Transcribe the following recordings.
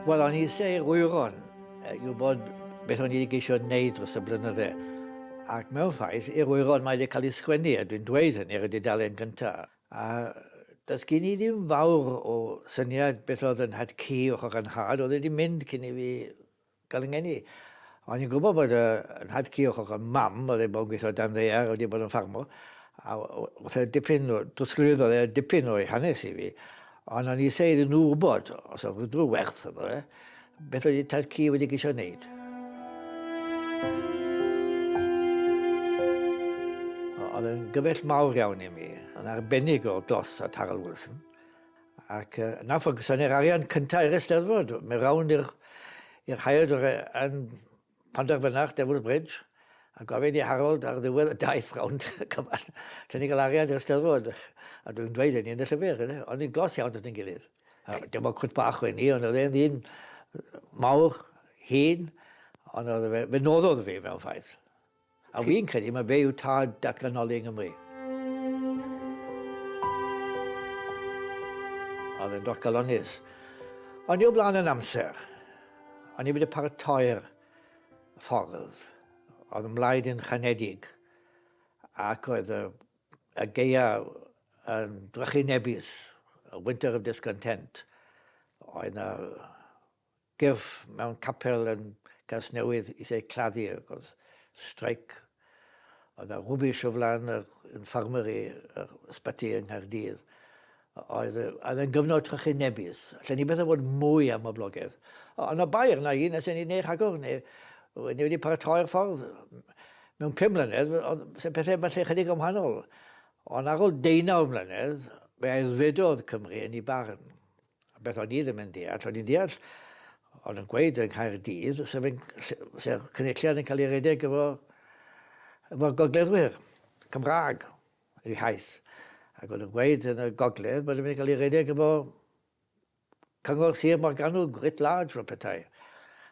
Wel, o'n i eisiau i'r wyron i wybod beth o'n i wedi geisio wneud dros y blynydde. Ac mewn ffaith, i'r wyron mae wedi cael ei sgwennu, a dwi'n dweud hynny ar y dudalen gyntaf. A does gen i ddim fawr o syniad beth oedd yn nhad ci o'ch o'ch nhad, oedd wedi mynd cyn i fi gael yn ngeni. O'n i'n gwybod bod y nhad ci o'ch o'ch yn mam, oedd ei bod yn gweithio dan ddear, oedd wedi bod yn ffarmo, a oedd e dipyn o, dwslwyd oedd e dipyn o'i hanes i fi, ond o'n i eisiau iddyn nhw wybod os oedd rhywbeth werth yno fe, Beth oedd tad ci wedi geisio wneud? Oedd yn gyfell mawr iawn i mi, yn arbennig o glos at Harold Wilson. Ac uh, na ffwrgyson ni'r arian cyntaf i'r eisteddfod, mae rawn i'r haeod yn Pan derfynach Devil's Bridge, a gofid i Harold ar ddiwedd y daith rownd y cymal, allwn ni gael arian i'r Steddfod. A dwi'm yn dweud hynny yn y llyfr, ynde? O'n ni'n glos iawn dros ein gilydd. Dim ond cwt bach oedd hi, ond oedd e'n ddyn mawr, hŷn, ond oedd e, fe noddodd fi mewn ffaith. A fi'n credu mae fe yw tad datganoli yng Nghymru. Oedd e'n dosgalonnus. O'n i o flaen yn amser. O'n i wedi paratoi'r ffordd. Oedd yn mlaid yn chanedig. Ac oedd y, y geia yn drychinebus. A winter of discontent. Oedd na Gyrff mewn capel yn Gasnewydd i Sir Claddu ac oedd streic oedd na rwbish o flan yr infirmary yr ysbyty yng Nghaerdydd oedd oedd yn gyfnod trychinebus allan ni beth a fod mwy am boblogaidd ond na bai arna i nes i ni neu rhagor neu ni wedi paratoi'r ffordd mewn pum mlynedd oedd se pethau falle chydig am hanol ond ar ôl deunaw mlynedd fe aeddfedodd Cymru yn ei barn Beth o'n i ddim yn deall, o'n i'n deall o'n yn gweud yn Caerdydd sef, yn, sef cynulliad yn cael ei redeg efo, efo gogleddwyr Cymraeg ei haith. Ac o'n yn gweud yn y gogledd bod yn cael ei redeg efo cyngor Sir Morgannwg, writ large fel petai.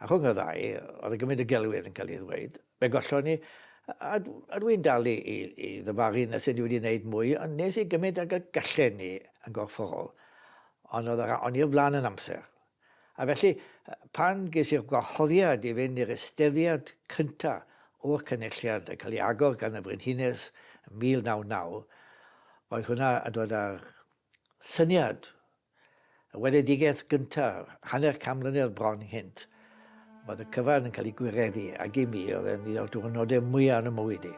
A rhwng y ddau, oedd yn gymryd y gelwydd yn cael ei ddweud. Fe gollon ni, a dw i'n dal i ddyfalu nes i ni wedi gwneud mwy, ond nes i gymaint ag y gallen ni yn gorfforol, ond oedd yr aon i'r flaen yn amser. A felly, pan ges i'r gwahoddiad i fynd i'r eisteddfod cyntaf o'r Cynulliad yn cael ei agor gan y Frenhines yn 1999, oedd hwnna yn dod â'r syniad Y weledigaeth gyntaf, hanner can mlynedd bron cynt, oedd y cyfan yn cael ei gwireddu, ac i mi oedd e'n un o'r diwrnodau mwyaf yn y mywyd i.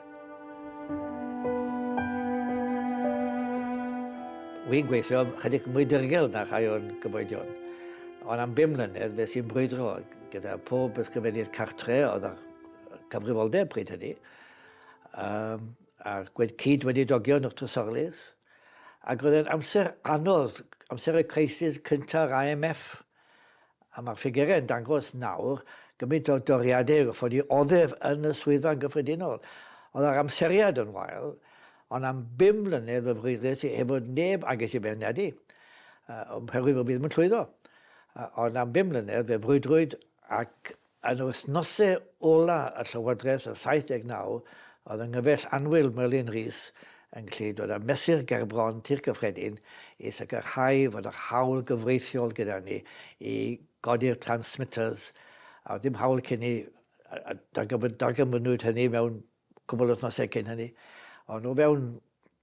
Wy'n gweithio chydig mwy dirgel na rhai o'n cyfoedion, ond am bum mlynedd fe sy'n brwydro gyda pob ysgrifennydd cartre oedd â cyfrifoldeb pryd hynny, um, a'r gwed cyd wedi dogio yn y trysorlys. Ac oedd e'n amser anodd, amser y crisis cynta'r IMF, a mae'r ffigurau yn dangos nawr gymaint o doriadau y goffon ni oddef yn y swyddfa'n gyffredinol. Oedd yr amseriad yn wael, ond am bum mlynedd fe freuddwyd i heb fod neb a ges i feirniadu, oherwydd fy fi ddim yn llwyddo. Ond am bum mlynedd fe frwydrwyd ac Yn yr wythnosau ola' y llywodraeth yn 79, oedd yng nghyfaill annwyl Merlin Rees yn gallu dod â mesur gerbron Tŷ'r Cyffredin i sicrhau fod yr haul gyfreithiol gyda ni i godi'r transmitters a oedd dim haul cyn 'ny a darganfynnwyd hynny mewn cwbl o wythnosau cyn hynny, ond o fewn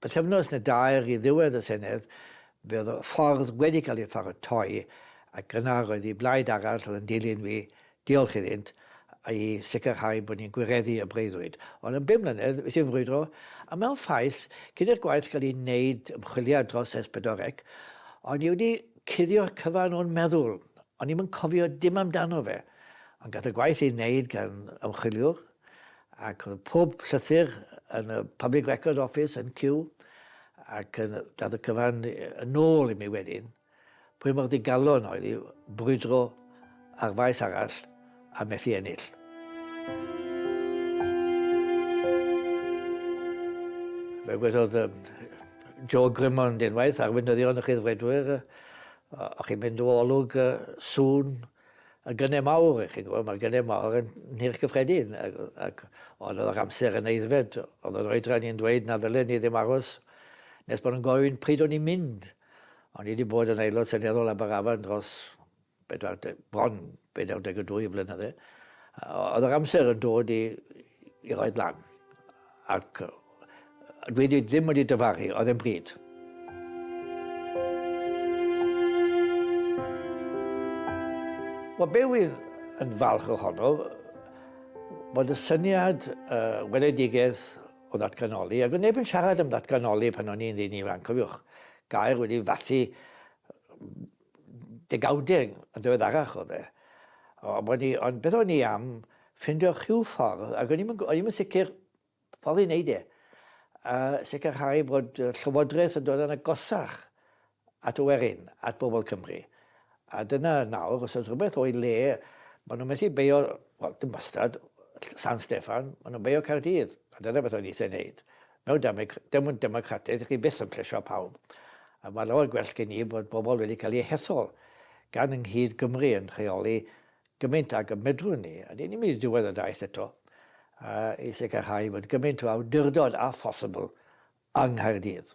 pythefnos neu dair i ddiwedd y Senedd, fe oedd y ffordd wedi cael ei pharatoi ac yna roedd i blaid arall oedd yn dilyn fi, diolch iddynt, i sicrhau bod ni'n gwireddu y breuddwyd. Ond yn bum mlynedd, wnes i frwydro, a mewn ffaith, cyn i'r gwaith gael ei wneud, ymchwiliad dros S pedwar C, o'n i wedi cuddio'r cyfan o'n meddwl, o'n i'm yn cofio dim amdano fe, ond gath y gwaith ei wneud gan ymchwiliwr, ac oedd pob llythyr yn y Public Record Office yn Kew ac yn dad y cyfan yn ôl i mi wedyn pwy mor ddigalon oedd i brwydro ar faes arall a methu ennill. Fe wedodd um, Joe Grimmond unwaith, arweinyddion y chyddfredwyr, o'ch chi'n mynd o olwg uh, sŵn y gynnau mawr, chi'n gwybod, mae'r gynnau mawr yn nhirch gyffredin, ac, ac ond oedd yr amser yn eiddfed, oedd yr oedran i'n dweud na ddylen ni ddim aros nes bod yn gofyn pryd o'n i'n mynd. O'n i wedi bod yn aelod seneddol Aberafan dros bedwar, bron 42 flynydde. Oedd yr amser yn dod i, i roed lan. Ac Dwi wedi, ddim wedi dyfaru, oedd e'n bryd. Wel, be wy'n yn falch ohono, bod y syniad uh, weledigaeth o ddatganoli, ac oedd neb yn siarad am ddatganoli pan o'n i'n ddyn ifanc, cofiwch, gair wedi fathu degawdau yn ddiweddarach o dde. Ond beth o'n i am ffindio rhyw ffordd, ac o'n i'n sicr Ffordd i wneud e, a sicrhau bod y Llywodraeth yn dod yn agosach at y werin, at bobl Cymru. A dyna nawr, os oes rhywbeth o'i le, maen nhw'n methu beio, wel, dim wastad, San Steffan, maen nhw'n beio Caerdydd. A dyna beth oedd eisiau wneud. Mewn demyn democrataidd, dych chi byth yn plesio pawb. A mae lawer gwell gen i bod bobl wedi cael eu hethol gan yng Nghyd Gymru yn rheoli gymaint ag y medrwn ni, a dyn ni'n mynd i ddiwedd y daith eto, i sicrhau fod gymaint o awdurdod â phosibl yng Nghaerdydd.